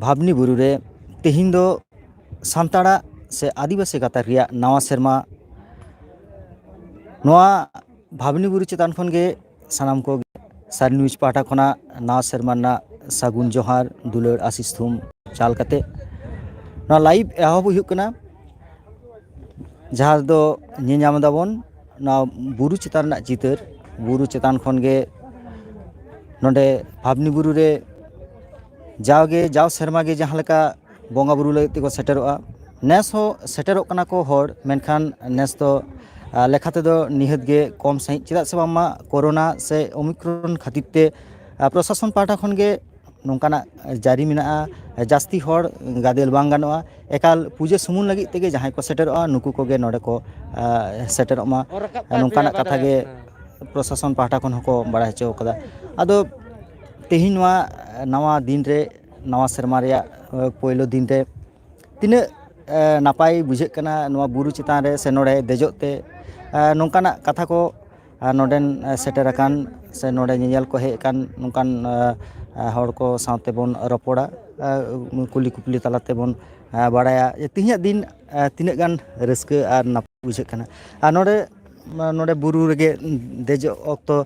ᱵᱷᱟᱵᱽᱱᱤ ᱵᱩᱨᱩ ᱨᱮ ᱛᱮᱦᱮᱧ ᱫᱚ ᱥᱟᱱᱛᱟᱲᱟᱜ ᱥᱮ ᱟᱹᱫᱤᱵᱟᱹᱥᱤ ᱜᱟᱛᱟᱠ ᱨᱮᱭᱟᱜ ᱱᱟᱣᱟ ᱥᱮᱨᱢᱟ ᱱᱚᱣᱟ ᱵᱷᱟᱵᱽᱱᱤ ᱵᱩᱨᱩ ᱪᱮᱛᱟᱱ ᱠᱷᱚᱱ ᱜᱮ ᱥᱟᱱᱟᱢ ᱠᱚ ᱥᱟᱨ ᱱᱤᱭᱩᱡᱽ ᱯᱟᱦᱴᱟ ᱠᱷᱚᱱᱟᱜ ᱱᱟᱣᱟ ᱥᱮᱨᱢᱟ ᱨᱮᱱᱟᱜ ᱥᱟᱹᱜᱩᱱ ᱡᱚᱦᱟᱨ ᱫᱩᱞᱟᱹᱲ ᱟᱥᱤᱥ ᱛᱷᱩᱢ ᱪᱟᱞ ᱠᱟᱛᱮ ᱱᱚᱣᱟ ᱞᱟᱭᱤᱵᱷ ᱮᱦᱚᱵ ᱦᱩᱭᱩᱜ ᱠᱟᱱᱟ ᱡᱟᱦᱟᱸ ᱫᱚ ᱧᱮᱧᱟᱢ ᱫᱟᱵᱚᱱ ᱱᱚᱣᱟ ᱵᱩᱨᱩ ᱪᱮᱛᱟᱱ ᱨᱮᱱᱟᱜ ᱪᱤᱛᱟᱹᱨ ᱵᱩᱨᱩ ᱪᱮᱛᱟᱱ ᱠᱷᱚᱱ ᱜᱮ ᱱᱚᱰᱮ ᱵᱷᱟᱵᱽᱱᱤ ᱵᱩᱨᱩ ᱨᱮ ᱡᱟᱣᱜᱮ ᱡᱟᱣ ᱥᱮᱨᱢᱟ ᱜᱮ ᱡᱟᱦᱟᱸ ᱞᱮᱠᱟ ᱵᱚᱸᱜᱟ ᱵᱩᱨᱩ ᱞᱟᱹᱜᱤᱫ ᱛᱮᱠᱚ ᱥᱮᱴᱮᱨᱚᱜᱼᱟ ᱱᱮᱥ ᱦᱚᱸ ᱥᱮᱴᱮᱨᱚᱜ ᱠᱟᱱᱟ ᱠᱚ ᱦᱚᱲ ᱢᱮᱱᱠᱷᱟᱱ ᱱᱮᱥ ᱫᱚ ᱞᱮᱠᱷᱟ ᱛᱮᱫᱚ ᱱᱤᱦᱟᱹᱛ ᱜᱮ ᱠᱚᱢ ᱥᱟᱺᱦᱤᱡ ᱪᱮᱫᱟᱜ ᱥᱮ ᱵᱟᱝᱢᱟ ᱠᱳᱨᱳᱱᱟ ᱥᱮ ᱳᱢᱤᱠᱨᱚᱱ ᱠᱷᱟᱹᱛᱤᱨ ᱛᱮ ᱯᱨᱚᱥᱟᱥᱚᱱ ᱯᱟᱦᱴᱟ ᱠᱷᱚᱱᱜᱮ ᱱᱚᱝᱠᱟᱱᱟᱜ ᱡᱟᱹᱨᱤ ᱢᱮᱱᱟᱜᱼᱟ ᱡᱟᱹᱥᱛᱤ ᱦᱚᱲ ᱜᱟᱫᱮᱞ ᱵᱟᱝ ᱜᱟᱱᱚᱜᱼᱟ ᱮᱠᱟᱞ ᱯᱩᱡᱟᱹ ᱥᱩᱢᱩᱝ ᱞᱟᱹᱜᱤᱫ ᱛᱮᱜᱮ ᱡᱟᱦᱟᱸᱭ ᱠᱚ ᱥᱮᱴᱮᱨᱚᱜᱼᱟ ᱱᱩᱠᱩ ᱠᱚᱜᱮ ᱱᱚᱰᱮ ᱠᱚ ᱥᱮᱴᱮᱨᱚᱜ ᱢᱟ ᱱᱚᱝᱠᱟᱱᱟᱜ ᱠᱟᱛᱷᱟ ᱜᱮ ᱯᱨᱚᱥᱟᱥᱚᱱ ᱯᱟᱦᱴᱟ ᱠᱷᱚᱱ ᱦᱚᱸᱠᱚ ᱵᱟᱲᱟᱭ ᱦᱚᱪᱚ ᱠᱟᱫᱟ ᱟᱫᱚ ᱛᱮᱦᱮᱧ ᱱᱚᱣᱟ ᱱᱟᱣᱟ ᱫᱤᱱᱨᱮ ᱱᱟᱣᱟ ᱥᱮᱨᱢᱟ ᱨᱮᱭᱟᱜ ᱯᱳᱭᱞᱳ ᱫᱤᱱᱨᱮ ᱛᱤᱱᱟᱹᱜ ᱱᱟᱯᱟᱭ ᱵᱩᱡᱷᱟᱹᱜ ᱠᱟᱱᱟ ᱱᱚᱣᱟ ᱵᱩᱨᱩ ᱪᱮᱛᱟᱱ ᱨᱮ ᱥᱮ ᱱᱚᱰᱮ ᱫᱮᱡᱚᱜ ᱛᱮ ᱱᱚᱝᱠᱟᱱᱟᱜ ᱠᱟᱛᱷᱟ ᱠᱚ ᱱᱚᱰᱮᱱ ᱥᱮᱴᱮᱨ ᱟᱠᱟᱱ ᱥᱮ ᱱᱚᱰᱮ ᱧᱮᱧᱮᱞ ᱠᱚ ᱦᱮᱡ ᱟᱠᱟᱱ ᱱᱚᱝᱠᱟᱱ ᱦᱚᱲ ᱠᱚ ᱥᱟᱶ ᱛᱮᱵᱚᱱ ᱨᱚᱯᱚᱲᱟ ᱠᱩᱞᱤ ᱠᱩᱯᱞᱤ ᱛᱟᱞᱟ ᱛᱮᱵᱚᱱ ᱵᱟᱲᱟᱭᱟ ᱡᱮ ᱛᱮᱦᱮᱧᱟᱜ ᱫᱤᱱ ᱛᱤᱱᱟᱹᱜ ᱜᱟᱱ ᱨᱟᱹᱥᱠᱟᱹ ᱟᱨ ᱱᱟᱯᱟᱭ ᱵᱩᱡᱷᱟᱹᱜ ᱠᱟᱱᱟ ᱟᱨ ᱱᱚᱰᱮ ᱱᱚᱰᱮ ᱵᱩᱨᱩ ᱨᱮᱜᱮ ᱫᱮᱡᱚᱜ ᱚᱠᱛᱚ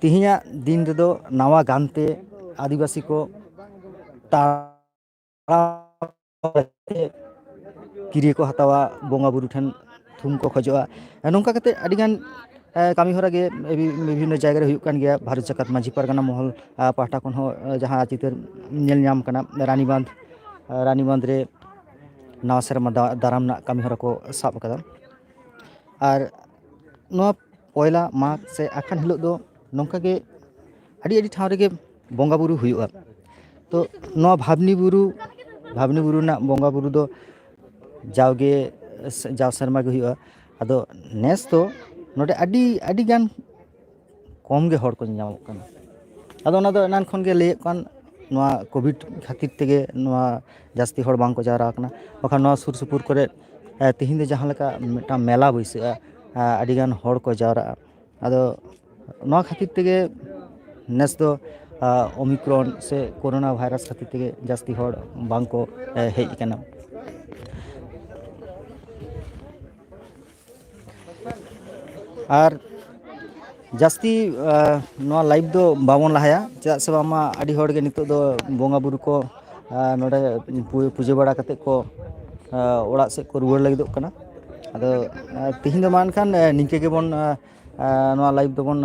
ᱛᱮᱦᱤᱧᱟᱜ ᱫᱤᱱ ᱨᱮᱫᱚ ᱱᱟᱣᱟ ᱜᱟᱱᱛᱮ ᱟᱹᱫᱤᱵᱟᱹᱥᱤ ᱠᱚ ᱠᱤᱨᱭᱟᱹ ᱠᱚ ᱦᱟᱛᱟᱣᱟ ᱵᱚᱸᱜᱟ ᱵᱩᱨᱩ ᱴᱷᱮᱱ ᱛᱷᱩᱢ ᱠᱚ ᱠᱷᱚᱡᱚᱜᱼᱟ ᱱᱚᱝᱠᱟ ᱠᱟᱛᱮᱫ ᱟᱹᱰᱤᱜᱟᱱ ᱠᱟᱹᱢᱤ ᱦᱚᱨᱟ ᱜᱮ ᱵᱤᱵᱷᱤᱱᱱᱚ ᱡᱟᱭᱜᱟ ᱨᱮ ᱦᱩᱭᱩᱜ ᱠᱟᱱ ᱜᱮᱭᱟ ᱵᱷᱟᱨᱚᱛ ᱡᱟᱠᱟᱛ ᱢᱟᱺᱡᱷᱤ ᱯᱟᱨᱜᱟᱱᱟ ᱢᱚᱦᱚᱞ ᱯᱟᱦᱴᱟ ᱠᱷᱚᱱ ᱦᱚᱸ ᱡᱟᱦᱟᱸ ᱪᱤᱛᱟᱹᱨ ᱧᱮᱞ ᱧᱟᱢ ᱠᱟᱱᱟ ᱨᱟᱱᱤᱵᱟᱸᱫᱷ ᱨᱟᱱᱤᱵᱟᱸᱫᱷ ᱨᱮ ᱱᱟᱣᱟ ᱥᱮᱨᱢᱟ ᱫᱟᱨᱟᱢ ᱨᱮᱱᱟᱜ ᱠᱟᱹᱢᱤ ᱦᱚᱨᱟ ᱠᱚ ᱥᱟᱵ ᱠᱟᱫᱟ ᱟᱨ ᱱᱚᱣᱟ ᱯᱚᱭᱞᱟ ᱢᱟᱜᱽ ᱥᱮ ᱟᱠᱷᱟᱱ ᱦᱤᱞᱳᱜ ᱫᱚ ᱱᱚᱝᱠᱟ ᱜᱮ ᱟᱹᱰᱤ ᱟᱹᱰᱤ ᱴᱷᱟᱶ ᱨᱮᱜᱮ ᱵᱚᱸᱜᱟ ᱵᱳᱨᱳ ᱦᱩᱭᱩᱜᱼᱟ ᱛᱚ ᱱᱚᱣᱟ ᱵᱷᱟᱵᱽᱱᱤ ᱵᱩᱨᱩ ᱵᱷᱟᱵᱽᱱᱤ ᱵᱩᱨᱩ ᱨᱮᱱᱟᱜ ᱵᱚᱸᱜᱟ ᱵᱳᱨᱳ ᱫᱚ ᱡᱟᱣᱜᱮ ᱡᱟᱣ ᱥᱮᱨᱢᱟ ᱜᱮ ᱦᱩᱭᱩᱜᱼᱟ ᱟᱫᱚ ᱱᱮᱥ ᱫᱚ ᱱᱚᱰᱮ ᱟᱹᱰᱤ ᱟᱹᱰᱤᱜᱟᱱ ᱠᱚᱢ ᱜᱮ ᱦᱚᱲ ᱠᱚ ᱧᱮᱧᱟᱢᱚᱜ ᱠᱟᱱᱟ ᱟᱫᱚ ᱚᱱᱟ ᱫᱚ ᱮᱱᱟᱱ ᱠᱷᱚᱱᱜᱮ ᱞᱟᱹᱭᱮᱜ ᱠᱟᱱ ᱱᱚᱣᱟ ᱠᱳᱵᱷᱤᱰ ᱠᱷᱟᱹᱛᱤᱨ ᱛᱮᱜᱮ ᱱᱚᱣᱟ ᱡᱟᱹᱥᱛᱤ ᱦᱚᱲ ᱵᱟᱝᱠᱚ ᱡᱟᱣᱨᱟ ᱠᱟᱱᱟ ᱵᱟᱠᱷᱟᱱ ᱱᱚᱣᱟ ᱥᱩᱨ ᱥᱩᱯᱩᱨ ᱠᱚᱨᱮᱜ ᱛᱤᱦᱤᱧ ᱫᱚ ᱡᱟᱦᱟᱸ ᱞᱮᱠᱟ ᱢᱤᱫᱴᱟᱝ ᱢᱮᱞᱟ ᱵᱟᱹᱭᱥᱟᱹᱜᱼᱟ ᱟᱹᱰᱤᱜᱟᱱ ᱦᱚᱲ ᱠᱚ ᱡᱟᱣᱨᱟᱜᱼᱟ ᱟᱫᱚ ᱱᱚᱣᱟ ᱠᱷᱟᱹᱛᱤᱨ ᱛᱮᱜᱮ ᱱᱮᱥ ᱫᱚ ᱚᱢᱤᱠᱨᱚᱱ ᱥᱮ ᱠᱳᱨᱳᱱᱟ ᱵᱷᱟᱭᱨᱟᱥ ᱠᱷᱟᱹᱛᱤᱨ ᱛᱮᱜᱮ ᱡᱟᱹᱥᱛᱤ ᱦᱚᱲ ᱵᱟᱝ ᱠᱚ ᱦᱮᱡ ᱠᱟᱱᱟ ᱟᱨ ᱡᱟᱹᱥᱛᱤ ᱱᱚᱣᱟ ᱞᱟᱭᱤᱵᱷ ᱫᱚ ᱵᱟᱵᱚᱱ ᱞᱟᱦᱟᱭᱟ ᱪᱮᱫᱟᱜ ᱥᱮ ᱵᱟᱝᱢᱟ ᱟᱹᱰᱤ ᱦᱚᱲᱜᱮ ᱱᱤᱛᱚᱜ ᱫᱚ ᱵᱚᱸᱜᱟ ᱵᱩᱨᱩ ᱠᱚ ᱱᱚᱸᱰᱮ ᱯᱩᱡᱟᱹ ᱵᱟᱲᱟ ᱠᱟᱛᱮᱫ ᱠᱚ ᱚᱲᱟᱜ ᱥᱮᱫ ᱠᱚ ᱨᱩᱣᱟᱹᱲ ᱞᱟᱹᱜᱤᱫᱚᱜ ᱠᱟᱱᱟ ᱟᱫᱚ ᱛᱤᱦᱤᱧ ᱫᱚ ᱢᱟ ᱮᱱᱠᱷᱟᱱ ᱱᱤᱝᱠᱟᱹ ᱜᱮᱵᱚᱱ ᱱᱚᱣᱟ ᱞᱟᱭᱤᱵᱷ ᱫᱚᱵᱚᱱ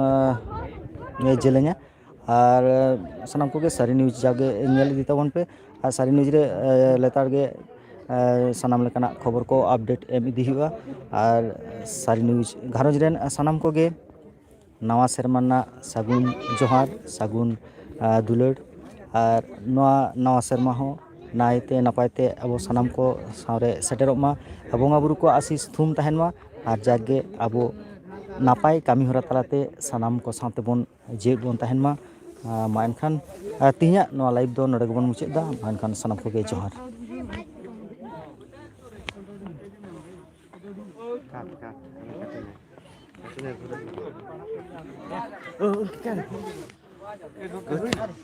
ᱡᱮᱞᱮᱧᱟ ᱟᱨ ᱥᱟᱱᱟᱢ ᱠᱚᱜᱮ ᱥᱟᱹᱨᱤ ᱱᱤᱭᱩᱡᱽ ᱡᱟᱜᱮ ᱧᱮᱞ ᱤᱫᱤ ᱛᱟᱵᱚᱱ ᱯᱮ ᱟᱨ ᱥᱟᱹᱨᱤ ᱱᱤᱭᱩᱡᱽ ᱨᱮ ᱞᱮᱛᱟᱲ ᱜᱮ ᱥᱟᱱᱟᱢ ᱞᱮᱠᱟᱱᱟᱜ ᱠᱷᱚᱵᱚᱨ ᱠᱚ ᱟᱯᱰᱮᱴ ᱮᱢ ᱤᱫᱤ ᱦᱩᱭᱩᱜᱼᱟ ᱟᱨ ᱥᱟᱹᱨᱤ ᱱᱤᱭᱩᱡᱽ ᱜᱷᱟᱨᱚᱸᱡᱽ ᱨᱮᱱ ᱥᱟᱱᱟᱢ ᱠᱚᱜᱮ ᱱᱟᱣᱟ ᱥᱮᱨᱢᱟ ᱨᱮᱱᱟᱜ ᱥᱟᱹᱜᱩᱱ ᱡᱚᱦᱟᱨ ᱥᱟᱹᱜᱩᱱ ᱫᱩᱞᱟᱹᱲ ᱟᱨ ᱱᱚᱣᱟ ᱱᱟᱣᱟ ᱥᱮᱨᱢᱟ ᱦᱚᱸ ᱱᱟᱭᱛᱮ ᱱᱟᱯᱟᱭ ᱛᱮ ᱟᱵᱚ ᱥᱟᱱᱟᱢ ᱠᱚ ᱥᱟᱶᱨᱮ ᱥᱮᱴᱮᱨᱚᱜ ᱢᱟ ᱵᱚᱸᱜᱟᱼᱵᱩᱨᱩ ᱠᱚᱣᱟᱜ ᱟᱹᱥᱤᱥ ᱛᱷᱩᱢ ᱛᱟᱦᱮᱱ ᱢᱟ ᱟᱨ ᱡᱟᱜᱮ ᱟᱵᱚ ᱱᱟᱯᱟᱭ ᱠᱟᱹᱢᱤᱦᱚᱨᱟ ᱛᱟᱞᱟᱛᱮ ᱥᱟᱱᱟᱢ ᱠᱚ ᱥᱟᱶ ᱛᱮᱵᱚᱱ ᱡᱮᱣᱮᱫ ᱵᱚᱱ ᱛᱟᱦᱮᱱ ᱢᱟ ᱢᱟ ᱮᱱᱠᱷᱟᱱ ᱛᱮᱦᱮᱧᱟᱜ ᱱᱚᱣᱟ ᱞᱟᱭᱤᱵᱷ ᱫᱚ ᱱᱚᱰᱮ ᱜᱮᱵᱚᱱ ᱢᱩᱪᱟᱹᱫ ᱮᱫᱟ ᱢᱟ ᱮᱱᱠᱷᱟᱱ ᱥᱟᱱᱟᱢ ᱠᱚᱜᱮ ᱡᱚᱦᱟᱨ